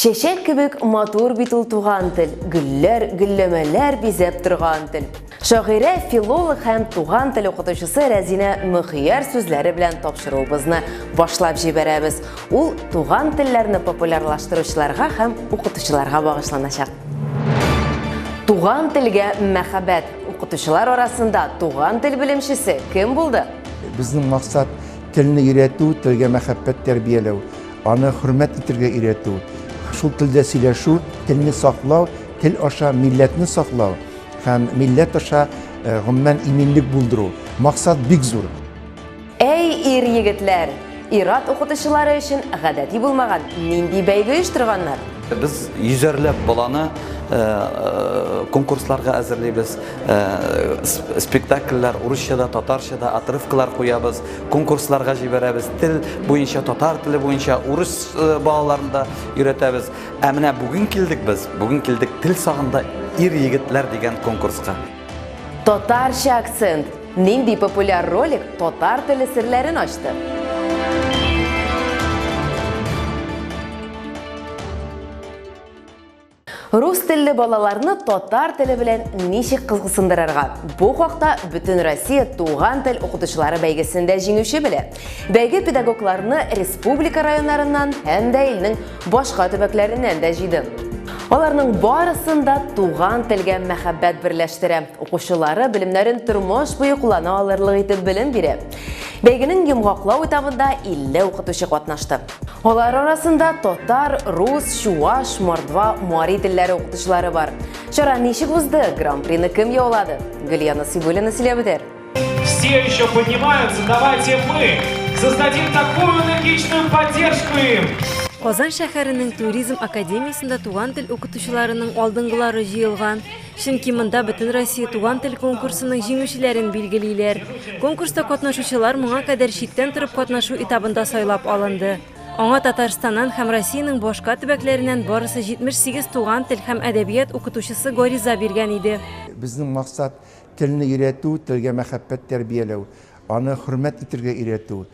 Чәчәк кебек матур бит ул туган тел, гөлләр, гөлләмәләр бизәп торган тел. Шагыйрә, филолог һәм туган тел укытучысы Рәзинә Мөхияр сүзләре белән тапшыруыбызны башлап җибәрәбез. Ул туган телләрне популярлаштыручыларга һәм укытучыларга багышланачак. Туган телгә мәхәббәт. Укытучылар арасында туган тел белемчесе кем булды? Безнең максат телне өйрәтү, телгә мәхәббәт тәрбияләү. Аны хөрмәт итергә өйрәтү, шул телдә сөйләшү, телне саклау, тел аша милләтне саклау һәм милләт аша э, гомумән иминлек булдыру. Максат бик зур. Әй, ир-егетләр, ират укытучылары өчен гадәти булмаган нинди бәйге оештырганнар? Без йөзәрләп баланы э, э, конкурсларга әзерлибез, э, спектакльләр урысча да, татарча да, отрывкалар куябыз. конкурсларга җибәрәбез тел буенча татар теле буенча урыс э, балаларын да өйрәтәбез ә менә бүген килдек без бүген килдек тел сагында ир егетләр дигән конкурска татарча акцент нинди популяр ролик татар теле серләрен ачты Рус телле балаларны татар теле белән ничек кызыксындырырга? Бу хакта Бөтен Россия туган тел укытучылары бәйгесендә җиңүче белә. Бәйге педагогларны республика районнарыннан һәм дә илнең башка төбәкләреннән дә җыйды. Аларның барысын да туган телгә мәхәббәт берләштерә. Укучылары белемнәрен тормыш буе куллана алырлык итеп белем бирә. Бәйгенең йомгаклау этабында 50 укытучы катнашты. Алар арасында татар, рус, чуаш, мордва, мари телләре укытучылары бар. Чара ничек узды? Гран-прины кем яулады? Гөлия Насыйбуллина сөйләп үтәр. Все еще поднимаются, давайте мы создадим такую энергичную поддержку им. Казан шәһәренең туризм академиясендә туган тел укытучыларының алдынгылары җыелган. Чөнки монда Бөтенроссия туган тел конкурсының җиңүчеләрен билгелиләр. Конкурста катнашучылар моңа кадәр читтән торып катнашу этабында сайлап алынды. Аңа Татарстаннан һәм Россиянең башка төбәкләреннән барысы 78 туган тел һәм әдәбият укытучысы гариза биргән иде. Безнең максат, телне өйрәтү, телгә мәхәббәт тәрбияләү, аны хөрмәт итергә өйрәтү,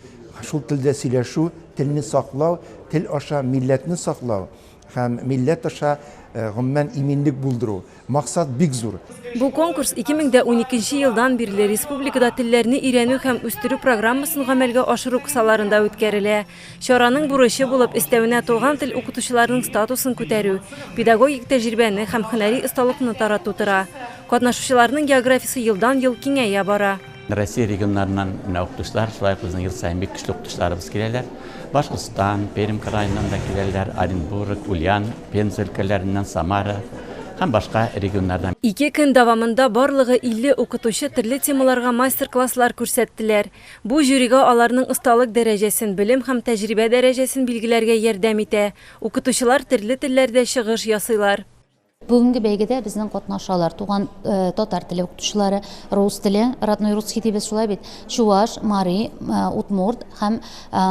шул телдә сөйләшү, телне саклау, тел аша милләтне саклау, Һәм милләт аша, гомумән, иминлек булдыру. Максат бик зур. Бу конкурс 2012 елдан бирле республикада телләрне өйрәнү һәм үстерү программасын гамәлгә ашыру кысаларында үткәрелә. Чараның бурычы булып, өстәвенә туган тел укытучыларының статусын күтәрү, педагогик тәҗрибәне һәм һөнәри осталыкны тарату тора. Катнашучыларның географиясе елдан-ел киңәя бара. Россия регионнарыннан менә укытучылар, шулай ук безнең ел саен бик көчле укытучыларыбыз киләләр. Башкортстан, Пермь краеннан да киләләр, Оренбург, Ульян, Пенза өлкәләреннән, Самара һәм башка регионнардан. Ике көн дәвамында барлыгы 50 укытучы төрле темаларга мастер-класслар күрсәттеләр. Бу жюрига аларның осталык дәрәҗәсен, белем һәм тәҗрибә дәрәҗәсен билгеләргә ярдәм итә. Укытучылар төрле телләрдә чыгыш ясыйлар. Бүгенге бәйгедә безнең катнашалар, туган татар теле укытучылары, рус теле, родной русский дибез шулай бит, чуваш, мари, удмурт һәм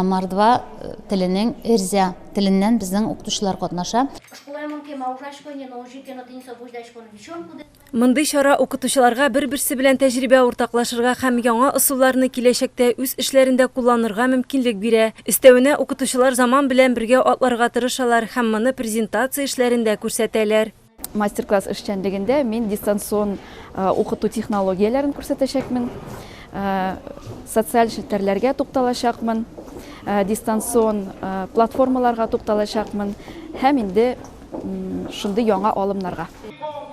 мордва теленең эрзя теленнән безнең укытучылар катнаша. Мондый чара укытучыларга бер-берсе белән тәҗрибә уртаклашырга һәм яңа ысулларны киләчәктә үз эшләрендә кулланырга мөмкинлек бирә. Өстәвенә, укытучылар заман белән бергә атларга тырышалар һәм моны презентация эшләрендә күрсәтәләр. Мастер-класс эшчәнлегендә мин дистанцион укыту технологияләрен күрсәтәчәкмен, социаль челтәрләргә тукталачакмын, дистанцион платформаларга тукталачакмын һәм инде. шундый яңа алымнарга.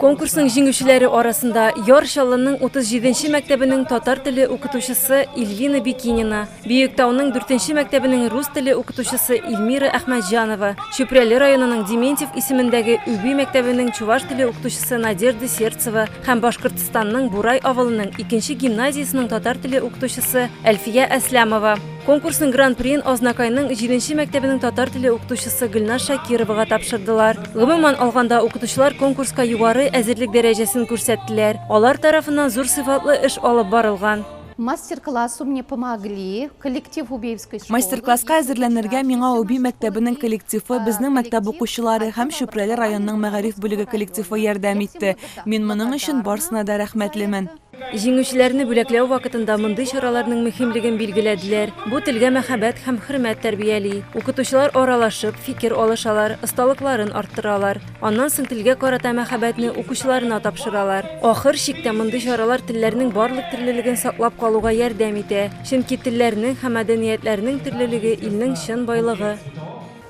Конкурсның җиңүчеләре арасында Яр Чаллының 37 нче мәктәбенең татар теле укытучысы Ильвина Бикинина, Биектауның 4 нче мәктәбенең рус теле укытучысы Ильмира Әхмәтҗанова, Чүпрәле районының Дементьев исемендәге Үби мәктәбенең чуваш теле укытучысы Надежда Сердцева һәм Башкортстанның Бурай авылының икенче гимназиясенең татар теле укытучысы Әлфия Әсләмова. Конкурсның гран-приен Азнакайның җиденче мәктәбенең татар теле укытучысы Гөлназ Шакировага тапшырдылар. Гомумән алганда, укытучылар конкурска югары әзерлек дәрәҗәсен күрсәттеләр. Алар тарафыннан зур сыйфатлы эш алып барылган. Мастер-классу мне помогли коллектив Убеевской школы. Мастер-класска әзерләнергә миңа Уби мәктәбенең коллективы, безнең мәктәп укучылары һәм Чүпрәле районының мәгариф бүлеге коллективы ярдәм итте. Мин моның өчен барсына да рәхмәтлемен. Җиңүчеләрне бүләкләү вакытында мондый чараларның мөһимлеген билгеләделәр. Бу телгә мәхәббәт һәм хөрмәт тәрбияли. Укытучылар аралашып, фикер алышалар, осталыкларын арттыралар. Аннан соң телгә карата мәхәббәтне укучыларына тапшыралар. Ахыр чиктә мондый чаралар телләрнең барлык төрлелеген саклап калуга ярдәм итә. Чөнки телләрнең һәм мәдәниятләрнең төрлелеге, илнең чын байлыгы.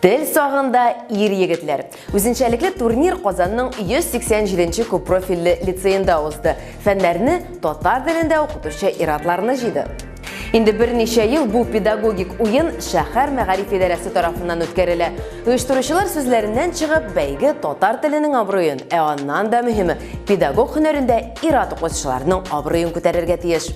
Тел сагында ир-егетләр. Үзенчәлекле турнир Казанның 187 нче күппрофильле лицеенда узды. Фәннәрне татар телендә укытучы ир-атларны җыйды. Инде берничә ел бу педагогик уен шәһәр мәгариф идарәсе тарафыннан үткәрелә. Оештыручылар сүзләреннән чыгып, бәйге татар теленең абруен, ә аннан да мөһиме, педагог һөнәрендә ир-ат укытучыларның абруен күтәрергә тиеш.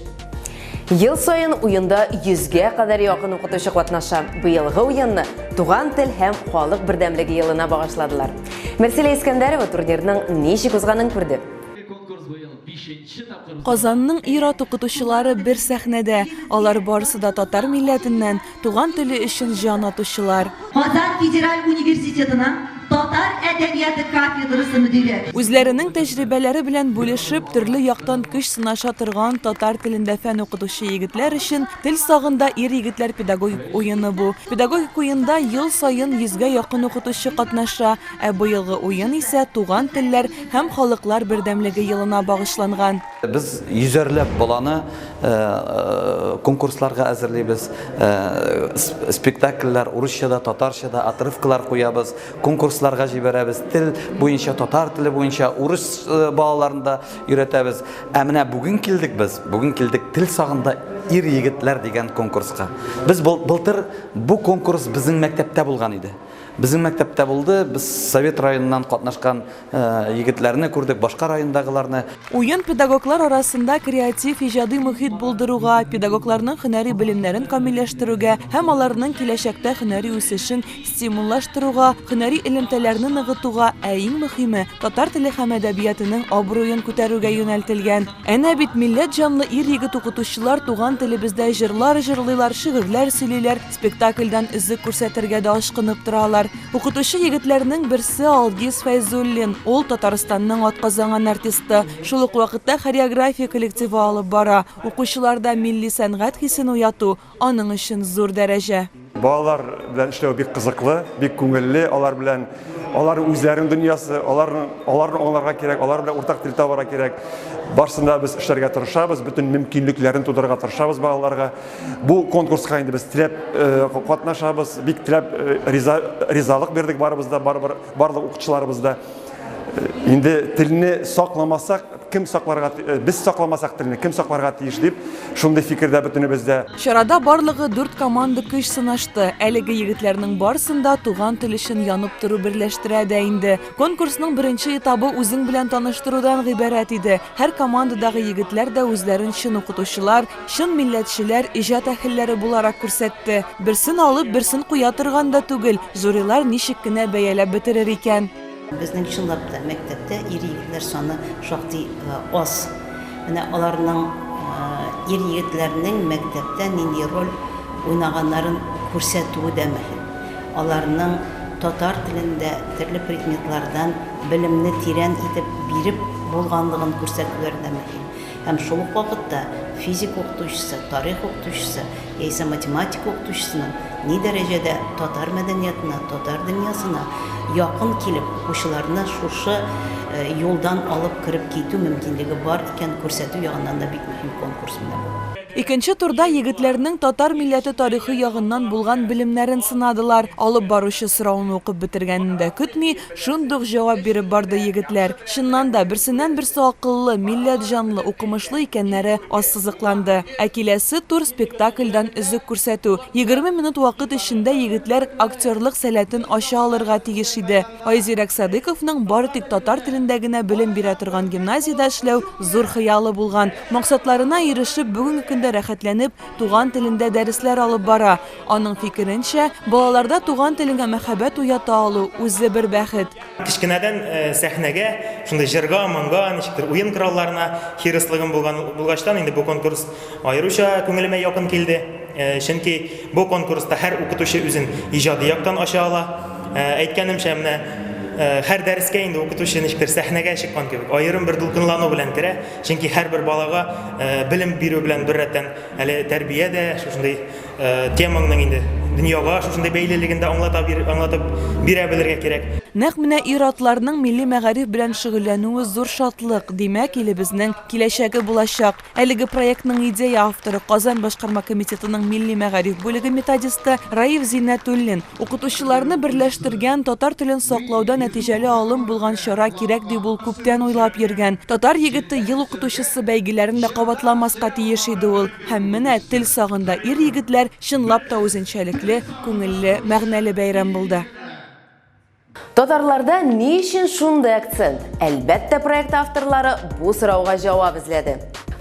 Ел саен уенда 100-гә кадәр якын укытучы катнаша. Быелгы уенны Туган тел һәм халык бердәмлеге елына багышладылар. Мәрсилә Искәндәрова турнирның ничек узганын күрде. Казанның ир-ат укытучылары бер сәхнәдә. Алар барысы да татар милләтеннән. Туган теле өчен җан атучылар. Казан федераль университетының татар әдәбияты кафедрасы мөдире. Үзләренең тәҗрибәләре белән бүлешеп, төрле яктан көч сынаша торган татар телендә фән укытучы егетләр өчен Тел сагында ир-егетләр педагогик уены бу. Педагогик уенда ел саен йөзгә якын укытучы катнаша, ә быелгы уен исә Туган телләр һәм халыклар бердәмлеге елына багышланган. Без йөзәрләп баланы конкурсларга әзерлибез, спектакльләр урысча да, татарча да, отрывкалар куябыз, конкурсларга җибәрәбез, тел буенча, татар теле буенча урыс балаларын да өйрәтәбез. Ә менә бүген килдек без, бүген килдек Тел сагында ир-егетләр дигән конкурска. Без былтыр бу конкурс безнең мәктәптә булган иде. Безнең мәктәптә булды, без Совет районыннан катнашкан Егетләрне күрдек, башка райондагыларны. Уен педагоглар арасында креатив, иҗади мохит булдыруга, педагогларның һөнәри белемнәрен камилләштерүгә һәм аларның киләчәктә һөнәри үсешен стимуллаштыруга, һөнәри элемтәләрне ныгытуга, ә иң мөхиме, татар теле һәм әдәбиятының абруен күтәрүгә юнәлтелгән. Әнә бит, милләт җанлы ир-егет укытучылар туган телебездә җырлар җырлыйлар, шигырьләр сөйлиләр, спектакльдән өзек күрсәтергә дә ашкынып торалар. Укытучы егетләрнең берсе Алдис Фәйзуллин. Ул Татарстанның атказанган артисты. Шул ук вакытта хореография коллективы алып бара. Укучыларда милли сәнгать хисен уяту, аның өчен зур дәрәҗә. Балалар белән эшләү бик кызыклы, бик күңелле. Алар белән, алар үзләренең дөньясы, аларны, аларны аңларга кирәк, алар белән уртак тел табарга кирәк. Барсын да без эшләргә тырышабыз, бөтен мөмкинлекләрен тудырырга тырышабыз балаларга. Бу конкурска инде без теләп катнашабыз, бик теләп риза, ризалык бирдек барыбыз да, барыбер барлык укытучыларыбыз да. Инде телне сакламасак, кем сакларга э, без сакламасак телне кем сакларга тиеш дип шундый фикердә бөтенебездә чарада барлыгы дүрт команда көч сынашты әлеге егетләрнең барысын да туган тел өчен янып тору берләштерә дә инде конкурсның беренче этабы үзең белән таныштырудан гыйбарәт иде һәр командадагы егетләр дә үзләрен чын укытучылар Чын милләтчеләр, иҗат әһелләре буларак күрсәтте. Берсен алып, берсен куя торган да түгел, жюрилар ничек кенә бәяләп бетерер икән? Безнең чынлап та мәктәптә ир-егетләр саны шактый аз. Менә аларның, ир-егетләрнең мәктәптә нинди роль уйнаганнарын күрсәтүе дә мөһим. Аларның татар телендә төрле предметлардан белемне тирән итеп биреп булганлыгын күрсәтүләре дә мөһим. Һәм шул ук вакытта физика укытучысы, тарих укытучысы яисә математика укытучысының ни дәрәҗәдә татар мәдәниятына, татар дөньясына якын килеп, укучыларны шушы юлдан алып кереп китү мөмкинлеге бар икәнен күрсәтү ягыннан да бик мөһим конкурс менә бу. Икенче турда егетләрнең татар милләте тарихы ягыннан булган белемнәрен сынадылар. Алып баручы сорауны укып бетергәнен дә көтми, Шундук җавап биреп барды егетләр. Чыннан да, берсеннән-берсе акыллы, милләт җанлы, укымышлы икәннәре ассызыкланды. Ә киләсе тур, спектакльдән өзек күрсәтү. Егерме минут вакыт эчендә егетләр актерлык сәләтен ача алырга тиеш иде. Айзирәк Садыйковның бары тик татар телендә генә белем бирә торган гимназиядә эшләү зур хыялы булган. Максатларына ирешеп, бүгенге көндә рәхәтләнеп туган телендә дәресләр алып бара. Аның фикеренчә, балаларда туган телеңә мәхәббәт уята алу, үзе бер бәхет. Кечкенәдән сәхнәгә, шундый җырга, моңга, ничектер уен коралларына хирыслыгым булган булгачтан, инде бу конкурс аеруча күңелемә якын килде. Чөнки бу конкурста һәр укытучы үзен иҗади яктан ача ала. Әйткәнемчә, менә һәр дәрескә инде укытучы ничектер сәхнәгә чыккан кебек, аерым бер дулкынлану белән керә. Чөнки һәрбер балага белем бирү белән беррәттән, әле тәрбия дә, шушындый Э, темаңның инде дөньяга шушындай бәйлелеген дә аңлата бир, аңлатып бирә белергә кирәк. Нәкъ менә ир-атларның милли мәгариф белән шөгыльләнүе зур шатлык, димәк, илебезнең киләчәге булачак. Әлеге проектның идея авторы Казан башкарма комитетының милли мәгариф бүлеге методисты Раиф Зиннәтуллин. Укытучыларны берләштергән, татар телен саклауда нәтиҗәле алым булган чара кирәк дип ул күптән уйлап йөргән. Татар егете ел укытучысы бәйгеләрен дә кабатламаска тиеш иде ул. Һәм менә тел сагында ир-егетләр чынлап та үзенчәлекле, күңелле, мәгънәле бәйрәм булды. Татарларда ни өчен шундый акцент? Әлбәттә, проект авторлары бу сорауга җавап эзләде.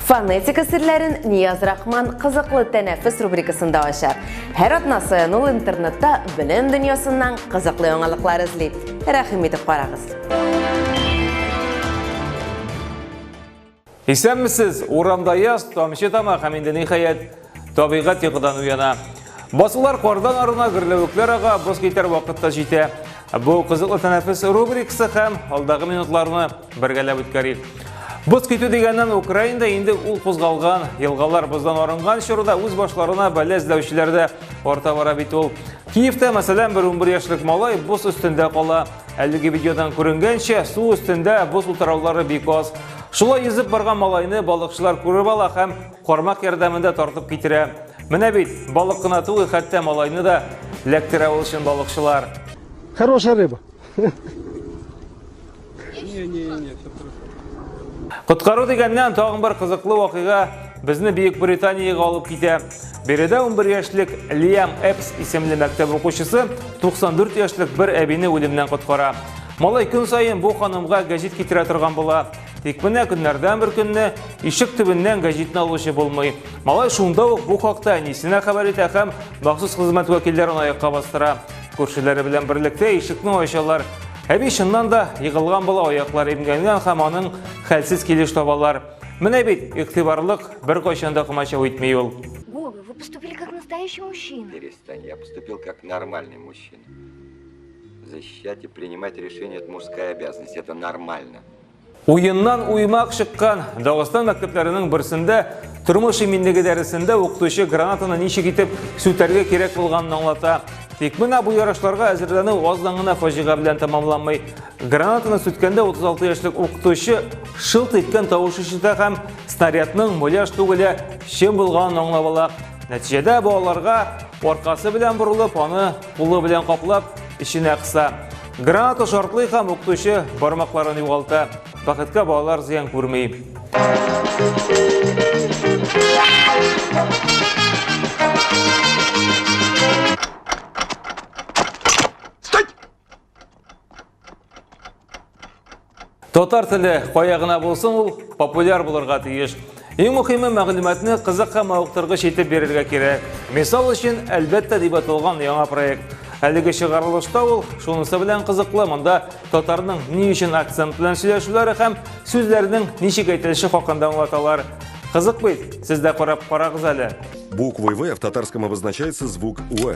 Фонетика серләрен Нияз Рахман Кызыклы тәнәфес рубрикасында ача. Һәр атна саен ул интернетта белем дөньясыннан кызыклы яңалыклар эзли. Рәхим итеп карагыз. Исәнмесез! Урамда яз, тамчы тама һәм инде ниһаять табигать йокыдан уяна. Басулар кардан арына, гөрләвекләр ага, боз китәр вакытта җитә. Бу кызыклы тәнәфес рубрикасы һәм алдагы минутларны бергәләп үткәрик. Боз китү дигәннән Украинда инде ул кузгалган, елгалар боздан арынган чорда үз башларына бәлә эзләүчеләр дә арта бара бит ул. Киевта, мәсәлән, бер 11 яшьлек малай боз өстендә кала. Әлеге видеодан күренгәнчә, су өстендә боз утыраулары бик аз. Шулай йөзеп барган малайны балыкчылар күреп ала һәм кармак ярдәмендә тартып китерә. Менә бит, балык кына түгел, хәтта малайны да ләктерә ул чын балыкчылар. Хорошая рыба. Коткару дигәннән тагын бер кызыклы вакыйга безне Бөекбританиягә алып китә. Биредә 11 яшьлек Лиам Эпс исемле мәктәп укучысы 94 яшьлек бер әбине үлемнән коткара. Малай көн саен бу ханымга гәҗит китерә торган була. Тик менә көннәрдән бер көнне ишек төбеннән гәҗитне алучы булмый. Малай шунда ук бу хакта әнисенә хәбәр итә һәм махсус хезмәт вәкилләрен аякка бастыра. Күршеләре белән берлектә ишекне ачалар. Әби чыннан да егылган була, аяклары имгәнгән һәм аның хәлсез килеш табалар. Менә бит, игътибарлык, беркайчан да комачау итми ул. Вова, вы поступили как настоящий мужчина. Перестань, я поступил как нормальный мужчина. Защищать и принимать решения – это мужская обязанность, это нормально. Уеннан уймак шыккан Дагыстан мәктәпләренең берсендә тормыш иминлеге дәресендә укытучы гранатаны ничек итеп сүтәргә кирәк булганын аңлата. Тик менә бу ярышларга әзерләнү аздан гына фаҗига белән тәмамланмый. Гранатаны сүткәндә 36 яшьлек укытучы шылт иткән тавыш ишетә һәм снарядның муляж түгеле чын булганын аңлап ала. Нәтиҗәдә балаларга аркасы белән борылып, аны кулы белән каплап, эченә кыса. Граната шартлый һәм укытучы бармакларын югалта. Бәхеткә балалар зыян күрми. Стать! Татар теле кая гына булсын ул популяр булырга тиеш. Иң мөхиме мәгълүматны кызык һәм мавыктыргыч итеп бирергә кирәк. Мисал өчен, әлбәттә дип аталган яңа проект. Әлеге чыгарылышта ул шунысы белән кызыклы, монда татарның ни өчен акцент белән сөйләшүләре һәм сүзләрнең ничек әйтелеше хакында аңлаталар. Кызык бит, сез дә карап карагыз әле. Буквой В в татарском обозначается звук В.